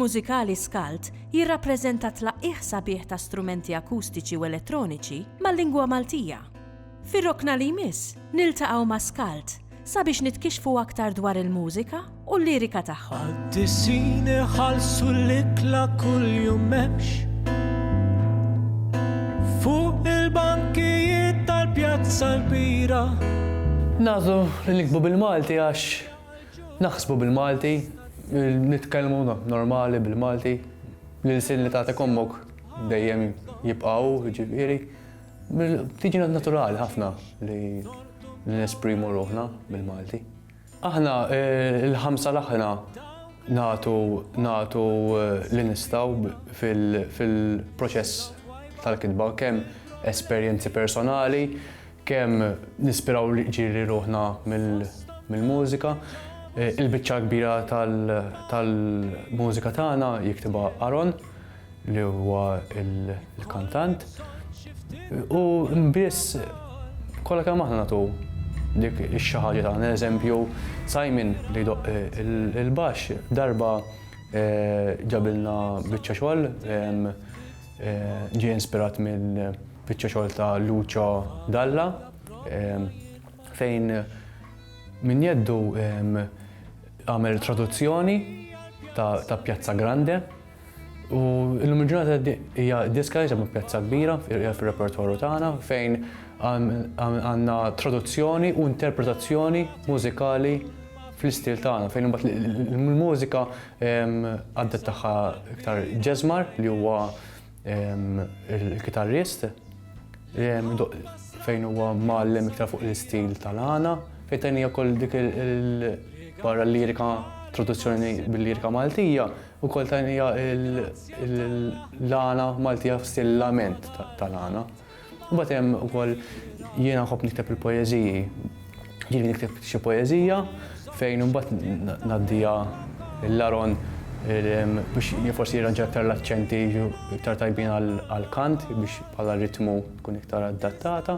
mużikali Skalt jirrappreżenta tlaqqih sabiħ ta' strumenti akustiċi u elettroniċi mal-lingwa Maltija. Fir-rokna li jmiss, niltaqgħu ma' Skalt sabiex nitkixfu aktar dwar il-mużika u l-lirika tagħhom. Għaddisin iħallsu l-ikla kuljum memx. Fuq il-bankijiet tal-pjazza l-bira. Nazu li nikbu bil-Malti għax naħsbu bil-Malti, nitkellmu normali bil-Malti, l-ilsin li tagħtek ommok dejjem jibqgħu ġifieri. Tiġina naturali ħafna li nesprimu ruħna bil-Malti. Aħna il-ħamsa l-aħħna nagħtu nagħtu eh, li nistgħu fil-proċess tal-kitba kemm esperjenzi personali, kemm nispiraw li ġiri ruħna mill-mużika. Eh, il-biċċa kbira tal-mużika tagħna jiktibha Aron, li huwa l-kantant u biss kollha kemm aħna nagħtu dik ix-xi ħaġa tagħna. Eżempju, Simon li jdoqq il-baxx darba eh, ġabilna biċċa xogħol, eh, ġie inspirat mill-biċċa xogħol ta' Lucio Dalla eh, fejn minn jeddu għamel traduzzjoni ta' Piazza Grande. U illum il-ġurnata hija diska li ġabu pjazza kbira fir-repertorju tagħna fejn għandna traduzzjoni u interpretazzjoni mużikali fl-istil tagħna fejn imbagħad il-mużika għaddet tagħha iktar ġeżmar li huwa il-kitarrist fejn huwa mgħallem iktar fuq l-istil tal-għana fejn tajni wkoll dik il-barra lirika traduzzjoni bil-lirika Maltija Ukoll tajnija l-għana Maltija f'stil lament tal-għana. U batem ukoll jiena nħobb nikteb il-poeziji. Jiena nikteb xi poezija fejn imbagħad naddija l-laron biex forsi jirranġa iktar l-aċċenti iktar tajbin għal-kant biex bħala ritmu tkun iktar adattata.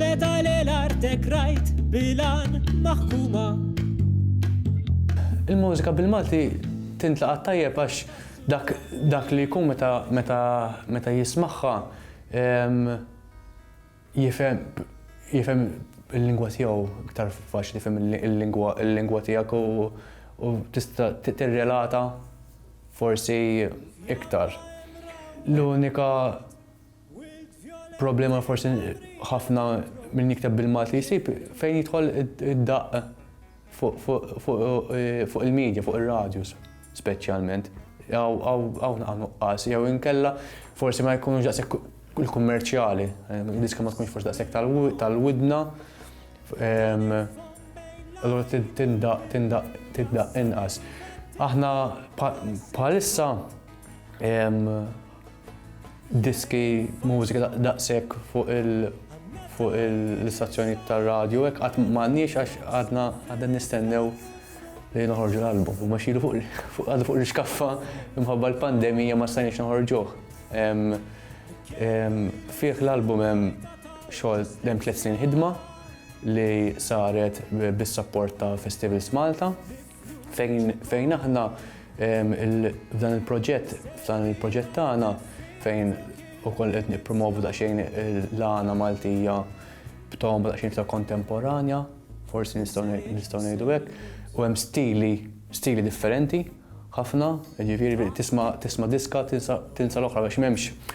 Meta l-artek rajt bilan maħkuma. Il-mużika bil-Malti tintlaqa' tajjeb għax dak dak li jkun meta meta meta jismagħha ehm, jifhem jifhem il-lingwa tiegħu iktar faċli fem il-lingwa tiegħek u tista' tirrelata Forsi iktar. L-unika problema forsi ħafna minn jikteb bil-Malti jsib fejn jidħol id-daqq fuq il-medja, fuq ir-radjus speċjalment. Hawn nuqqas, jew inkella forsi ma jkunux daqshekk il-kummerċjali, diska ma tkunx forsi daqshekk tal-widna. Allura tindaq, tindaq, tindaq inqas. Aħna bħalissa diski mużika daqshekk fuq il fuq l-istazzjoni tar-radju hekk qatt m'għandniex għax għadna għadna nistennew li noħorġu l-album. U maxilu fuq għadu fuq l-iskaffa imħabba l-pandemija ma stajniex noħorġuh. Fih l-album hemm Xogħol hemm tliet snin ħidma li saret bis-sapport ta' Festivals Malta fejn fejn aħna f'dan il-proġett f'dan il-proġett tagħna fejn ukoll qed nippromovu daqsxejn l-għana Maltija b'tom daqsxejn ta' kontemporanja, forsi nistgħu ngħidu hekk, u hemm stili stili differenti ħafna, jiġifieri tisma' tisma' diska tinsa l-oħra għax m'hemmx